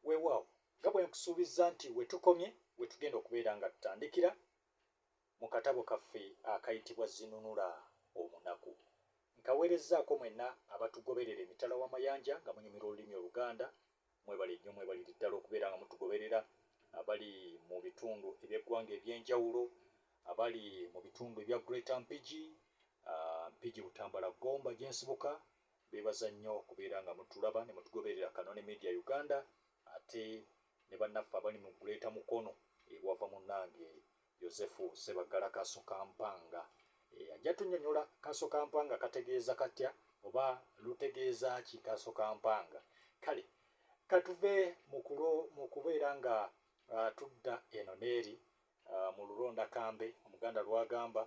weewaawo nga bwe nkusuubizza nti we tukomye we tugenda okubeera nga tutandikira mu katabo kaffe akayitibwa Zinunula Omunaku. Nkaweerezzaako mwenna abatugoberera emitala w'amayanja nga munyumirwa olulimi Oluganda. Mwebale nnyo, mwebalire ddala okubeera nga mutugoberera. Abali mu bitundu eby'eggwanga eby'enjawulo, abali mu bitundu ebya Greater Mpigi, ah, Mpigi Butambala Gomba gye nsibuka, Mbebaza nnyo okubeera nga mutulaba ne mutugoberera Kanoni Media Uganda ate ne bannaffe abali mu Greater Mukono e Bwava munnange Yozefu Ssebaggala Kasokampanga e ajja tunnyonyola Kasokampanga kategeeza katya oba lutegeeza ki Kasokampanga kale katuve mu kulo mu kubeera nga tudda eno n'eri mu luronda kambe Omuganda lw'agamba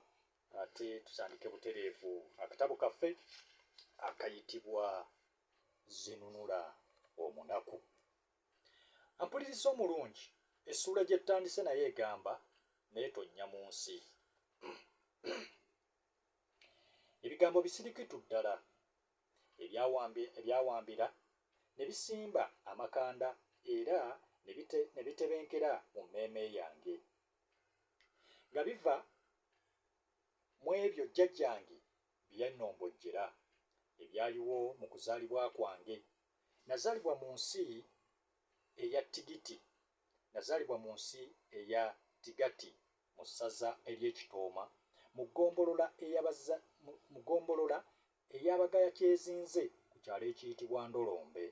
Ate tutandike butereevu akatabo kaffe akayitibwa Zinunula Omunaku. Ampuliriza omulungi, essuula gye tutandise nayo egamba naye tonnya mu nsi. Ebigambo bisirikitu ddala ebyawambira ne bisimba amakanda era ne bitebenkera mu mmeeme yange. nga biva mu ebyo jjajjange bye yannombojjera ebyaliwo mu kuzaalibwa kwange. Nazaalibwa mu nsi eya Tigiti, nazaalibwa mu nsi eya Tigati mu ssaza ery'e Kitooma mu ggombolola eyabaza mu ggombolola eya Bagaya Kyezinze ku kyalo ekiyitibwa Ndolombe.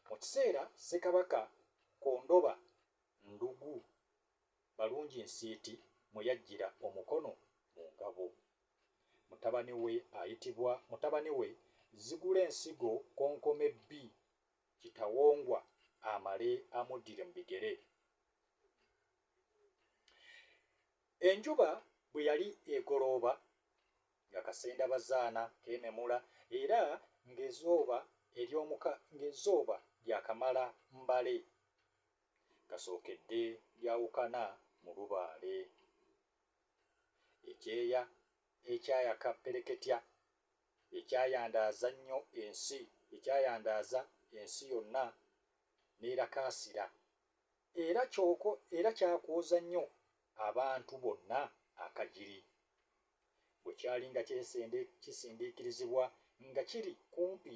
Mu kiseera Ssekabaka Kondoba Ndugu Balungi Nsiiti mwe yaggyira omukono mu ngabo, mutabani we ayitibwa mutabani we Zigulensigo Konkome ii Kitawongwa amale amuddire mu bigere. Enjuba bwe yali egolooba, nga kasendabazaana kememula era ng'ezooba ery'omuka ng'ezooba lyakamala mbale, kasookedde lyawukana mu lubaale. Ekyeya ekyayaka ppereketya, ekyayandaaza nnyo ensi, ekyayandaaza ensi yonna n'erakaasira. Era kyoko era kyakwoza nnyo abantu bonna akagiri. Bwe kyali nga kyesende kisindiikirizibwa nga kiri kumpi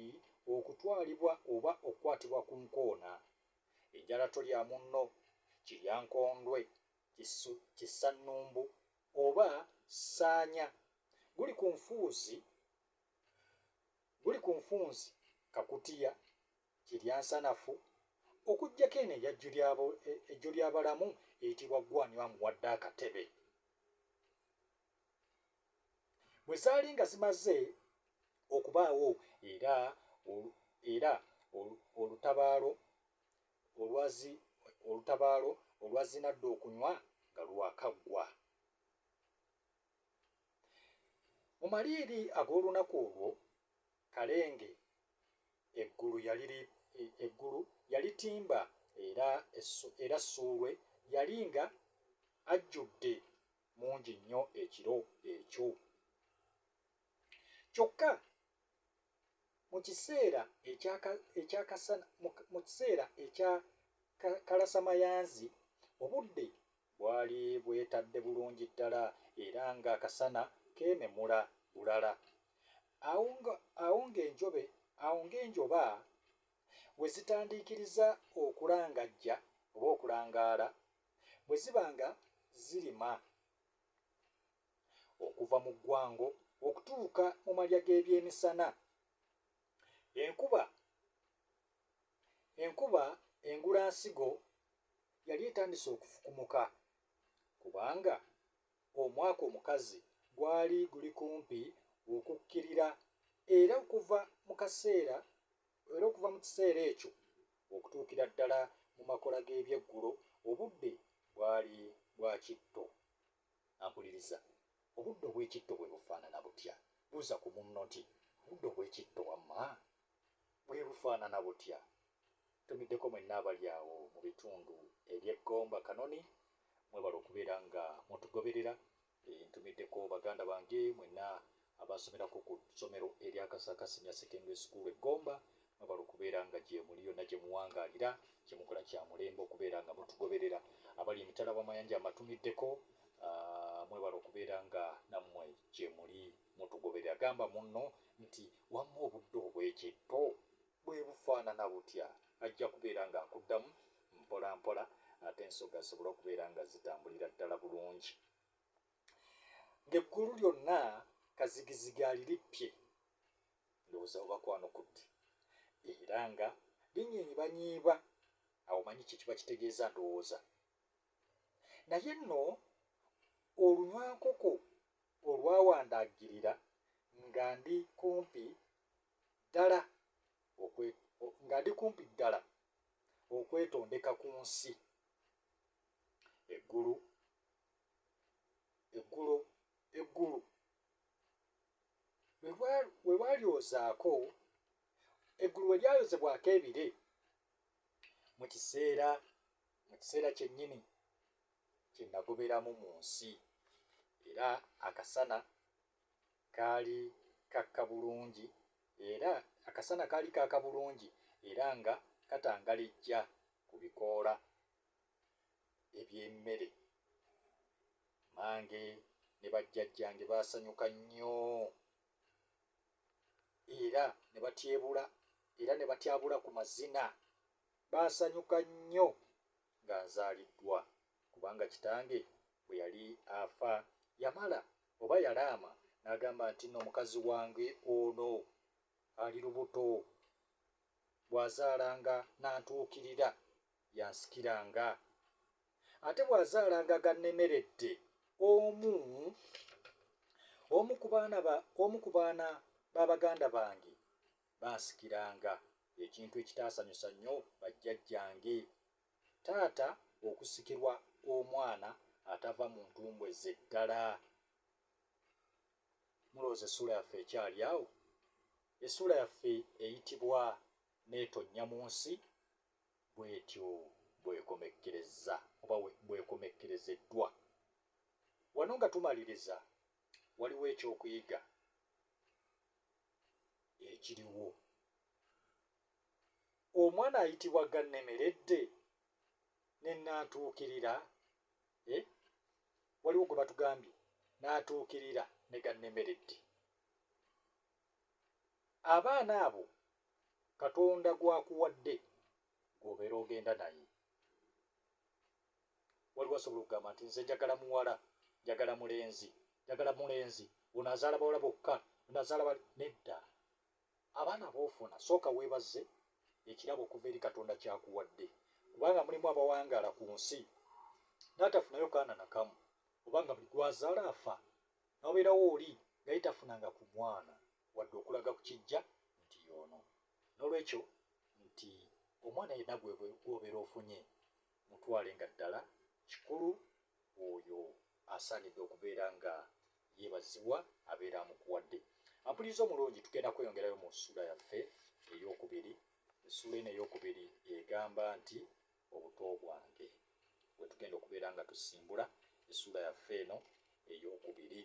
okutwalibwa oba okukwatibwa ku nkoona. Enjala tolya munno, kiryankondwe, kisu, kisannumbu oba ssaanya. Guli ku nfuuzi, guli ku nfunzi kakutiya Kirya nsanafu, okuggyako eno eya Jjulyabalamu eyitibwa Ggwe ani amuwadde akatebe? Bwe zaali nga zimaze okubaawo era era olutabaalo olwazi olutabaalo olwazinadda okunywa nga lwakaggwa. Mu maliiri ag'olunaku olwo, Kalenge eggulu yali eggulu yali ttimba era era Ssuulwe yali nga ajjudde mungi nnyo ekiro ekyo. Kyokka. Mu kiseera ekya ka, ekya kasana, mu, mu kiseera ekya ka, kalasamayanzi, obudde bwali bwetadde bulungi ddala era ng'akasana keememula bulala. Awo nga, awo ng'enjobe, awo ng'enjoba we zitandiikiriza okulangajja oba okulangaala, bwe ziba nga zirima. Okuva mu ggwango okutuuka mu malya g'ebyemisana, enkuba enkuba engulansigo yali etandise okufukumuka kubanga omwaka omukazi gwali guli kumpi okukkirira era okuva mu kaseera era okuva mu kiseera ekyo okutuukira ddala mu makola g'ebyeggulo obudde bwali bwa kitto. Akuliriza, Obuddo obw'ekitto bwe bufaanana butya? Buuza ku munno nti, Obuddo obw'ekitto wamma bwe bufaanana butya? Ntumiddeko mwenna abali awo mu bitundu eby'e Gomba Kanoni, mwebale okubeera nga mutugoberera. Ntumiddeko baganda bange mwenna Abaasomerako ku ssomero erya Kasaaka Senior Secondary School e Gomba mwebale okubeera nga gyemuli yonna gye muwangaalira, kye mukola kya mulembe okubeera nga mutugoberera. Abali emitala w'amayanja amatumiddeko mwebale okubeera nga nammwe gye muli mutugoberera. Gamba munno nti, Wamma obudde obw'ekitto bwe bufaanana butya? Ajja kubeera ng'akuddamu mpolampola ate ensoga zisobole okubeera nga zitambulira ddala bulungi. ng'eggulu lyonna kazigizigi alirippye, ndowooza oba kwanukudde, era nga linyiibanyiiba, awo omanyi kye kiba kitegeeza, ndowooza. Naye nno olunywankoko olwawandaggirira nga ndi kumpi ddala nga ndi kumpi ddala okwetondeka ku nsi, eggulu eggulo eggulu we bwalyozaako eggulu we lyayozebwako ebire mu kiseera mu kiseera kyennyini kye nagoberamu mu nsi era akasana kaali kakka bulungi era akasana kaali kaaka bulungi era nga katangalijja ku bikoola eby'emmere mange ne bajjajjange baasanyuka nnyo era ne batyebula era ne batyabula ku mazina baasanyuka nnyo nga nzaaliddwa kubanga kitange bwe yali afa yamala oba yalaama n'agamba nti nno mukazi wange ono ali lubuto bw'azaalanga n'antuukirira y'asikiranga. Ate bw'azaalanga gannemeredde omu, omu ku baana ba, omu ku baana ba baganda bange b'asikiranga, ekintu ekitaasanyusa nnyo bajjajjange. Taata okusikirwa omwana atava mu ntumbwe ze ddala! Mulowooza essuula yaffe ekyali awo? Essuula yaffe eyitibwa n'etonnya mu nsi bwetyo bw'ekomekkerezza oba bw'ekomekkerezeddwa. Wano nga tumaliriza, waliwo eky'okuyiga ekiriwo. Omwana ayitibwa Gannemeredde ne Nnantuukirira, eh, waliwo gwe batugambye, Nnantuukirira ne Gannemeredde. abaana abo katonda gwakuwadde gwobeera ogenda naye waliwo asobola okugamba nti nze njagala muwala njagala mulenzi njagala mulenzi ono azaala bawala bokka ono azaala bali nedda abaana boofuna sooka weebaze ekirabo okuva eri katonda kyakuwadde kubanga mulimu abawangaala ku nsi n'atafunayo kaana nakamu oba nga buli gwazaala afa n'obeerawo oli nga ye tafunanga ku mwana wadde okulaga ku kijja nti y'ono. N'olwekyo nti omwana yenna gw'obeera ofunye mutwale nga ddala kikulu oyo asaanidde okubeera nga yeebazibwa abeera amukuwadde. Ampuliriza omulungi tugenda kweyongerayo mu ssuula yaffe ey'okubiri. Essuula eno ey'okubiri egamba nti Obuto bwange. We tugenda okubeera nga tusimbula essuula yaffe eno ey'okubiri,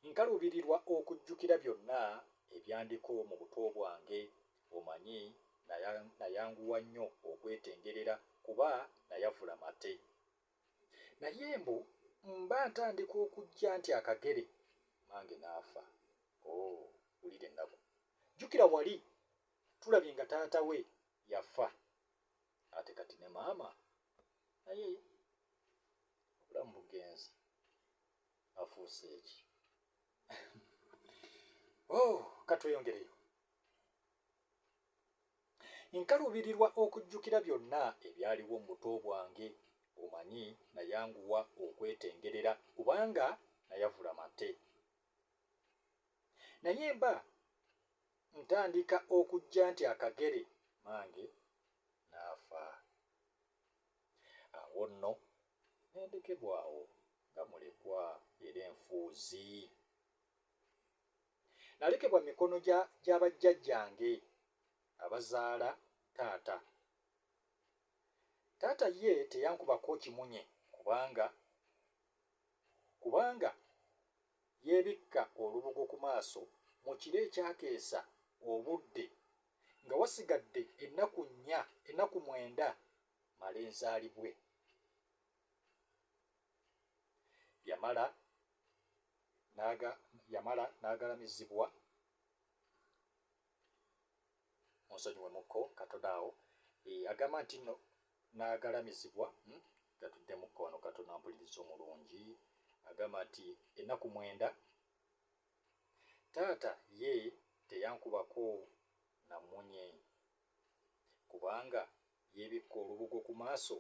nkaluubirirwa okujjukira byonna ebyandiko mu buto bwange. Omanyi, naya, nayanguwa nnyo okwetengerera, kuba nayavula mate. Naye mbu mba ntandika okujja nti akagere, mmange n'afa. Oh, wulira ennaku! Jjukira wali, tulabye nga taata we yafa ate kati ne maama naye obulamu bugenze afuuse eki oh, katweyongereyo nkaluubirirwa okujjukira byonna ebyaliwo mu buto bwange omanyi nayanguwa okwetengerera kubanga nayavula mate naye mba Ntandika okujja nti akagere mmange n'afa. Awo nno ne ndekebwa awo nga mulekwa era enfuuzi. Nalekebwa mu mikono gya gya bajjajjange abazaala taata. Taata ye teyankubako kimunye kubanga kubanga yeebikka olubugo ku maaso mu kiro ekyakeesa obudde nga wasigadde ennaku nnya ennaku mwenda male nzaalibwe. Yamala n'aga yamala n'agalamizibwa. munsonyiwe mukko katono awo eh, agamba nti no nagalamizibwa hmm? gatudde mukko wano katono ampuliriza omulungi agamba nti ennaku mwenda taata ye teyankubako namunye kubanga yebikka olubugo ku maaso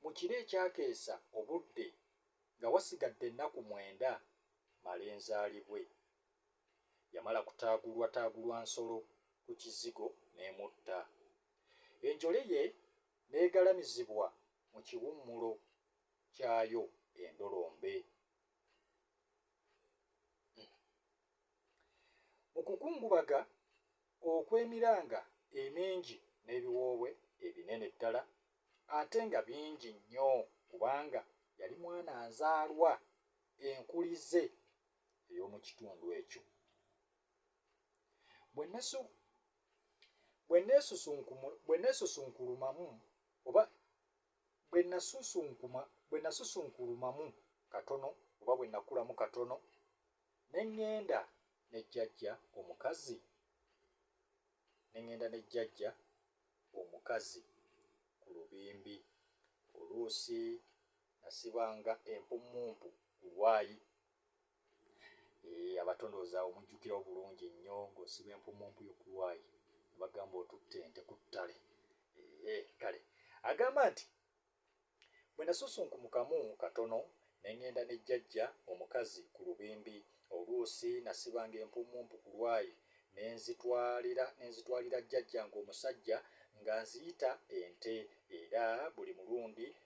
mu kiro ekyakeesa obudde nga wasigadde ennaku mwenda male nzaalibwe Yamala kutaagulwataagulwa nsolo ku kizigo n'emutta. Enjole ye n'egalamizibwa mu kiwummulo kyayo e Ndolombe. Mu kukungubaga okw'emiranga emingi n'ebiwoobwe ebinene ddala ate nga bingi nnyo kubanga yali mwana nzaalwa enkulize ey'omu kitundu ekyo. Bwe nneesusunkulumamu oba bwe nasusunkuma bwe nasusunkulumamu katono oba bwe nakulamu katono ne ŋŋenda ne jjajja omukazi ne ŋŋenda ne jjajja omukazi ku lubimbi oluusi nasibanga empummumpu ku Y. Eeh abato ndowooza awo mujjukirawo bulungi nnyo ng'osiba empummumpu yo ku Y ne bagamba otutte ente ku ttale. Eeh kale. Agamba nti, Bwe nasusunkumkamu katono ne ng'enda ne jjajja omukazi ku lubimbi, oluusi nasibanga empummumpu ku Y ne nzitwalira ne nzitwalira jjajjange omusajja ng'anziyita ente era buli mulundi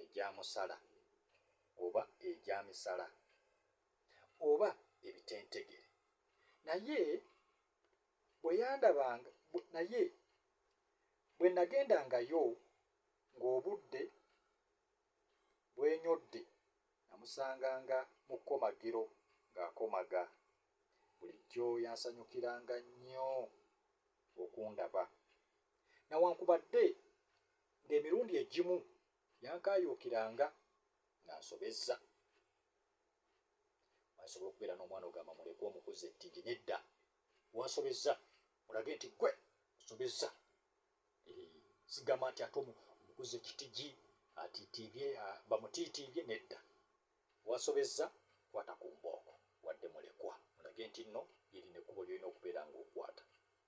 egya musala oba egya misala oba ebitentegere, naye bwe yandabanga, naye bwe nnagendangayo ng'obudde bwenyodde, nnamusanganga mu kkomagiro ng'akomaga. Bulijjo yansanyukiranga nnyo okundaba. Nawankubadde ng'emirundi egimu yankaayuukiranga ng'ansobezza. Omanyi nsobola okubeera n'omwana ogamba mulekwa omukuza ettigi nedda wansobezza mulage nti gwe osobezza sigamba nti ate omukuza ekitigi atiitiibye bamutiitiibye nedda wansobezza kwata ku mbooko wadde mulekwa mulage nti nno lyerina ekkubo lyolina okubeera ng'okwata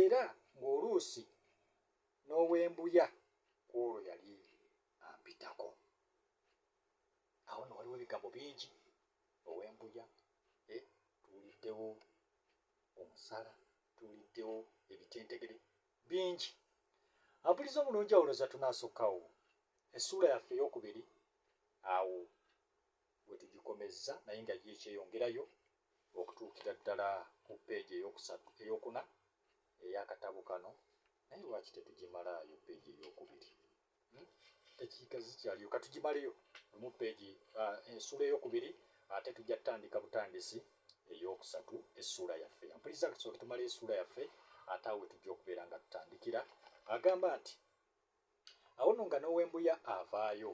era ng'oluusi n'owembuya ku olwo yali ampitako. Awo nno waliwo ebigambo bingi, owembuya, eh, tuwuliddewo omusala, tuwuliddewo ebitentegere, bingi. Ampuliza omulungi awo olowooza tunaasukkawo essuula yaffe ey'okubiri awo Wetugikomezza naye nga yo ekyeyongerayo okutuukira ddala ku peegi ey'okusatu, ey'okuna ey'akatabo kano. Naye lwaki tetugimalaayo peegi ey'okubiri? Hmm? Eddakiika zikyaliyo, katugimaleyo lumu peegi ah, ensuula ey'okubiri, ate tujja tutandika butandisi ey'okusatu essuula yaffe yampuliriza nga tusooke tumale essuula yaffe ate awo wetujja okubeera nga tutandikira agamba nti awo no nga n'owembuya avaayo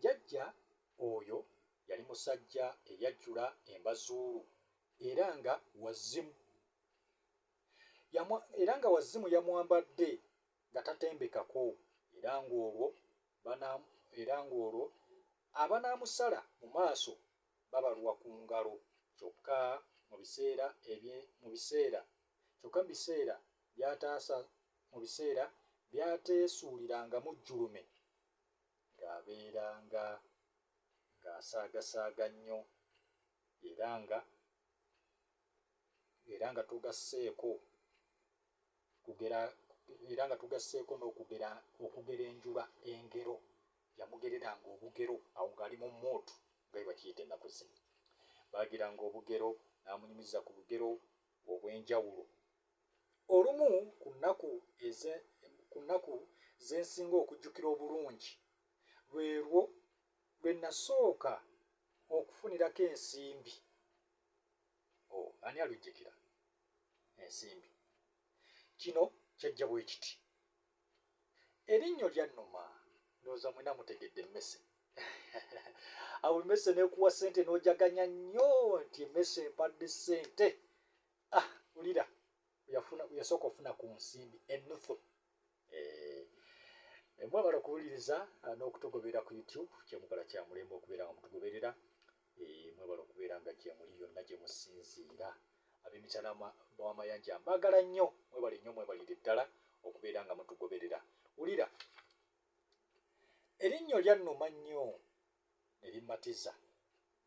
Jajja oyo yali musajja eyajjula embazuulu era nga wazimu yamwa era nga wazimu yamwambadde nga tatembekako era ng'olwo bana era ng'olwo abanaamusala mu maaso babalwa ku ngalo kyokka mu biseera ebye mu biseera kyokka mu biseera byataasa mu biseera byateesuulirangamu jjulume ng'abeera nga ng'asaagasaaga nnyo era nga era nga tugasseeko kugera era nga tugasseeko n'okugera okugera enjuba engero yamugereranga obugero awo ng'ali mu muudu nga bwe bakiyita ennaku zino baageranga obugero n'amunyumiza ku lugero obw'enjawulo. Olumu ku nnaku eze, ku nnaku ze nsinga okujjukira obulungi lwe lwo lwe nasooka okufunirako ensimbi. Oh, ani alujjikira? Ensimbi. Kino kyajja bwe kiti. Erinnyo lya Numa, ndowooza mwena mutegedde emmese. Awo emmese n'ekuwa ssente n'ojaganya nnyo nti emmese empadde ssente. ah ulira yafuna yasooka ofuna ku nsimbi ennufu eh, eh, mwebala okuwuliriza ah, n'okutugoberera ku youtube kyemukola kya mulembe okubeera nga mutugoberera eh, mwebala okubeera nga gyemuli yonna gye musinziira ab'emitala bw'amayanja mbaagala nnyo mwebale nnyo mwebalire ddala okubeera nga mutugoberera wulira erinnyo lyannuma nnyo ne limmatiza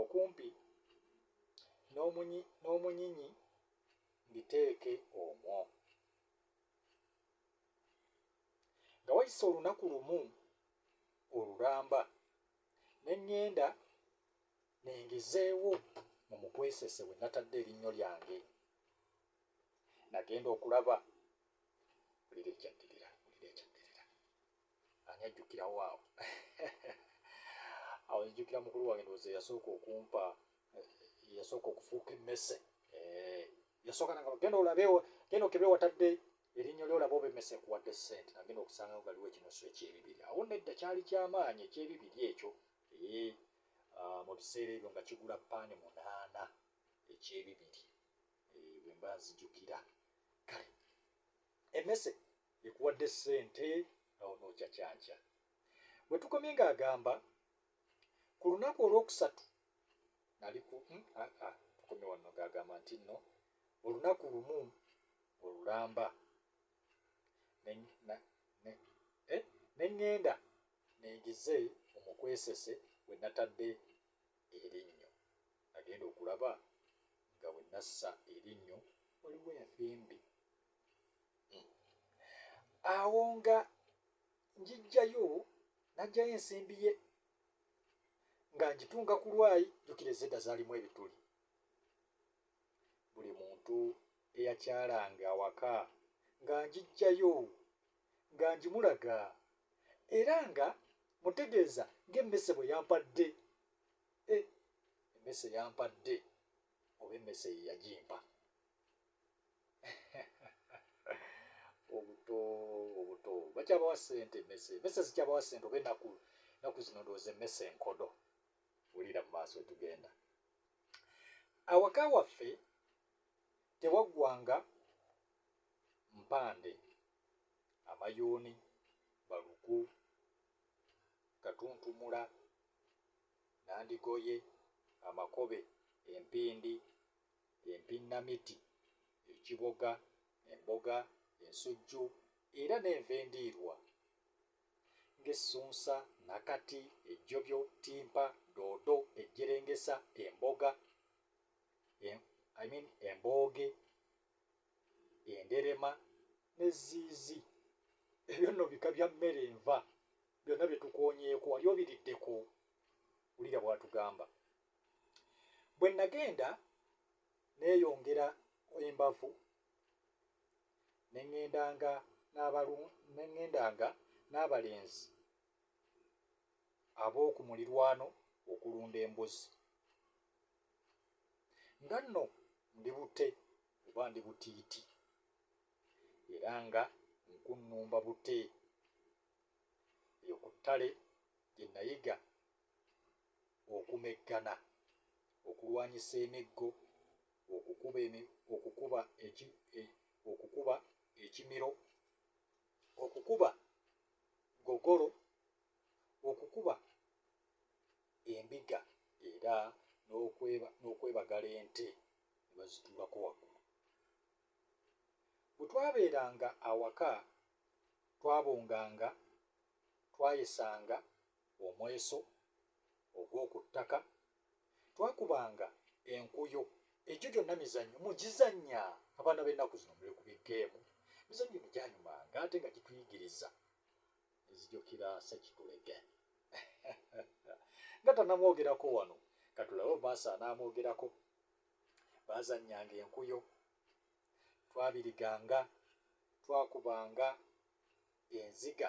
Okumpi n'omunyinyi mbiteeke omwo. Nga wayise olunaku lumu olulamba ne ŋŋenda ne ngezeewo mu mukwesese we natadde erinnyo lyange. Nagenda okulaba. Wulira ekyaddirira, wulira ekyaddirira. ani ajjukirawo awo awo njukira mukulu wange ndowooza eyasooka okumpa eyasooka eh, okufuuka emmese eh, yasooka nanga genda olabewo genda okebe watadde erinnya lyo olaba oba emmese ekuwadde ssente nagenda okusanga nga waliwo ekinusu ekyebibiri awo nedda kyali kyamaanyi ekyebibiri ekyo eh, ah, mu biseera ebyo nga kigula paani munaana ekyebibiri bwemba nzijukira kale emmese Ekuwadde ssente awo n'ocacanca. We tukomye ng'agamba, Ku lunaku olwokusatu nali ku mm, ah, ah, tukomye wanno ng'agamba nti nno olunaku lumu olulamba ne na- ne- eh, ne ŋŋenda ningize mu mukwesese we natadde erinnyo nagenda okulaba nga we nassa erinnyo waliwo envimbi awo nga njijjayo najjayo ensimbi ye nga njitunga ku lwayi jukira ezedda zalimu ebituli buli muntu eyakyalanga awaka nga njijjayo nga njimulaga era nga mutegeeza ng'emmese bwe yampadde e emmese yampadde oba emmese ye yagimpa obuto obuto bakyabawa sente mese mese zikyabawa sente oba enaku naku zino ndowooza emmese enkodo wulira mu maaso wetugenda awaka waffe tewaggwanga mpande amayuuni balugu katuntumula nandigoye amakobe empindi Empinnamiti, ekiboga, emboga, ensujju era n'enva endiirwa ng'essunsa, nakati, ejjobyo, ttimpa, doodo, ejjerengesa, emboga, I mean embooge, enderema n'ezziizi. Ebyo nno bika bya mmere nva byonna bye tukoonyeeko. Wali obiriddeko? Wulira bw'atugamba. bwe nagenda neeyongera embavu ne ŋŋendanga n'abalu ne ŋŋendanga n'abalenzi ab'oku mulirwano okulunda embuzi nga nno ndi bute oba ndi butiiti era nga nkunnumba bute eyo ku ttale gye nayiga okumeggana, okulwanyisa emiggo, okukuba okukuba ekimiro, okukuba gogolo, okukuba endiga era n'okwebagala ente ne bazituulako waggulu. Bwe twabeeranga awaka twabunganga, twayesanga omweso ogw'oku ttaka, twakubanga enkuyo, egyo gyonna mizannyo mugizannya, abaana b'ennaku zino muli ku bi ggeemu, emizannyo gino gyanyumanga ate nga gituyigiriza nzijukira Ssekitulege nga tanamwogerako wano katulabe oba asaanaamwogerako baazannyanga enkuyo twabiriganga twakubanga enziga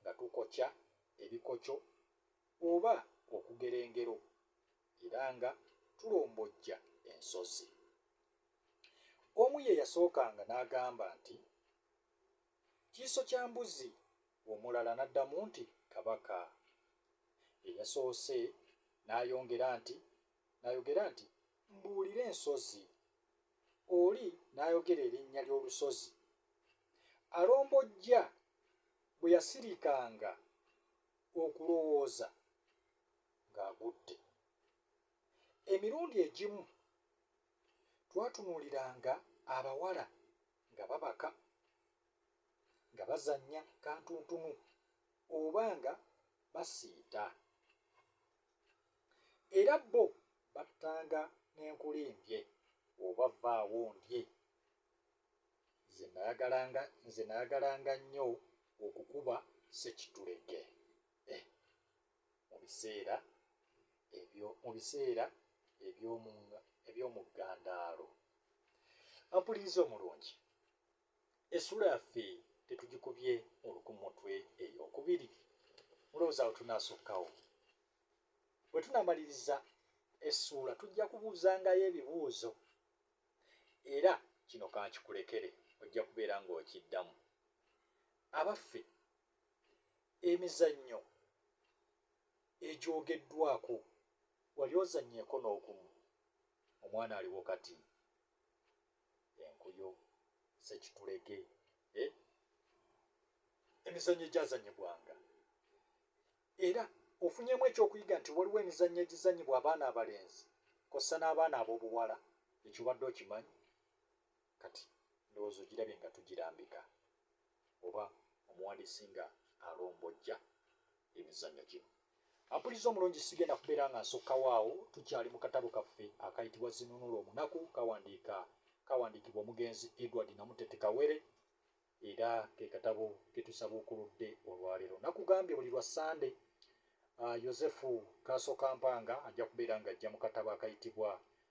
nga tukokya ebikokyo oba okugera engero era nga tulombojja ensozi. Omu ye yasookanga n'agamba nti, Kiiso kya mbuzi, omulala n'addamu nti, Kabaka. Eyasoose n'ayongera nti, N'ayogera nti, Mbuulira ensozi. Oli n'ayogera erinnya ly'olusozi. Alombojja bwe yasirikanga okulowooza ng'agudde. Emirundi egimu twatunuuliranga abawala nga babaka, nga bazannya kantuntunu, oba nga basiita. era bo battanga n'enkulimbye oba vvaawo ondye. Nze nayagalanga nze nayagalanga nnyo okukuba ssekitulege eh mu biseera ebyo mu biseera eby'omu eby'omu ggandaalo. Mpuliriza omulungi. Essuula yaffe tetugikubye ngulu ku mutwe ey'okubiri? Mulowooza awo tunaasukkawo? Bwe tunaamaliriza essuula tujja kubuuzangayo ebibuuzo. Era kino ka nkikulekere, ojja kubeera ng'okiddamu. Abaffe, emizannyo egyogeddwako wali ozannyeeko n'ogumu? Omwana aliwo kati. enkuyo sekitulege eh? emizannyo egyazanyibwanga era ofunyemu ekyokuyiga nti waliwo emizannyo egizanyibwa abaana abalenzi kossa n'abaana ab'obuwala ekyo badde okimanyi kati ndowooza ogirabye nga tugirambika oba omuwandiisi nga alombojja emizannyo gino. Ampulizza omulungi sigenda kubeera nga nsukkawo awo, tukyali mu katabo kaffe akayitibwa Zinunula Omunaku kawandiika kawandiikibwa omugenzi Edward Namutete Kawere era ke katabo ke tusabuukuludde olwaleero. Nakugambye buli lwa Ssande Yozefu Kaasokampanga ajja kubeera ng'ajja mu katabo akayitibwa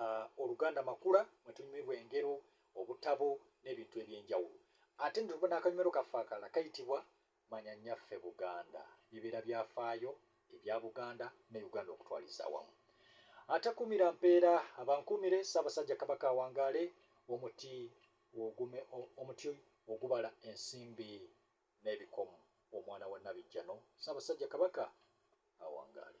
uh, oluganda makula mwetunyumirwa engero obutabo n'ebintu ebyenjawulo ate nituba n'akanyumero kaffe akala kayitibwa manya nyaffe buganda bibeera byafaayo ebya buganda ne uganda okutwaliza awamu ate kumira mpeera abankumire ssaabasajja kabaka awangaale omuti ogume omuti ogubala ensimbi n'ebikomu omwana wa nabijjano ssaabasajja kabaka awangaale